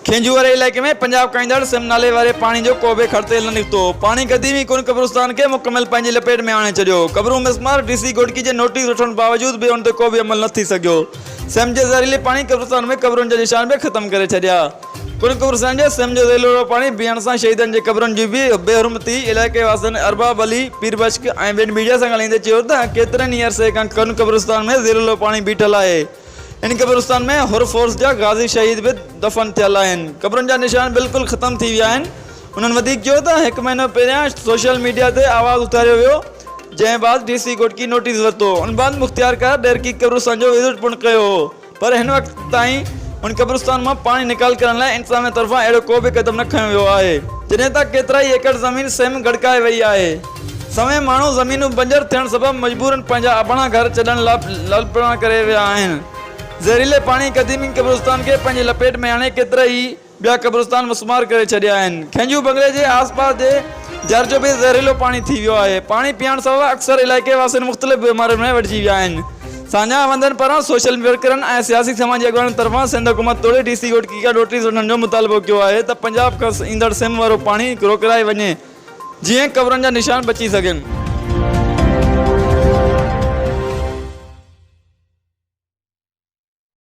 کينجهو واري علائقي ۾ پنجاب کائيندڙ سم نالي واري پاڻي جو ڪوبه خرتيل نه نڪتو، پاڻي قديم ئي ڪن قبرستان کي مڪمل پنهنجي لپيٽ ۾ آڻي ڇڏيو، قبرون مسمار، ڊي سي گهوٽڪي جي نوٽيس وٺڻ باوجود به ان تي ڪوبه عمل نه ٿي سگهيو، سم جي زهريلي پاڻي قبرستان ۾ قبرن جا نشان به ختم ڪري ڇڏيا. پڻ ڪفر سان جي سم جو ذيلو رو پاڻي پيئڻ سان شهيدن جي قبرن جي به بي حرمتي علائقي واسين ارباب علي، پير بشڪ ۽ ٻين ميڊيا سان ڳالهائيندي چيو ته ڪيترن ئي عرصي کان ڪن قبرستان ۾ ذيلولو پاڻي بيٺل آهي ان قبرستان ۾ حر فورس جا غازي شهيد به دفن ٿيل آهن قبرن جا نشان بلڪل ختم ٿي ويا آهن انهن وڌيڪ چيو ته هڪ مهينو پهريان سوشل ميڊيا تي آواز اٿاريو ويو جنهن بعد ڊي سي گهوٽڪي نوٽيس ورتو ان بعد مختيارڪار ڏيرڪي قبرستان جو وزٽ پڻ ڪيو هو پر هن وقت تائين هن قبرستان مان پاڻي نيڪال ڪرڻ لاء انتظاميه طرفان اهڙو ڪو به قدم نه کنيو ويو آهي. جڏهن ته ڪيترائي ايڪڙ زمين سيم گڙڪائي وئي آهي. سوين ماڻهو زمينون بنجر ٿيڻ سبب مجبورن پنهنجا اباڻا گهر ڇڏڻ لاء لالپرڻا ڪري ويا آهن. زهريلي پاڻي قديمي قبرستان کي پنهنجي لپيٽ ۾ آڻي ڪيترائي ٻيا قبرستان مسمار ڪري ڇڏيا آهن. کهنجو بنگلي جي آس پاس جي جر جو به زهريلو پاڻي ٿي ويو آهي. پاڻي پيئڻ سبب اڪثر علائقي واسين مختلف بيمارين ۾ وڍجي ويا آهن. ساڃاهه وندن پاران سوشل ورڪرن ۽ سياسي سماجي اڳواڻن طرفان سنڌ حڪومت توڙي ڊي سي گهوٽڪي کان نوٽيس وٺڻ جو مطالبو ڪيو آهي ته پنجاب کان ايندڙ سم وارو پاڻي روڪرائي وڃي جيئن قبرن جا نشان بچي سگهن.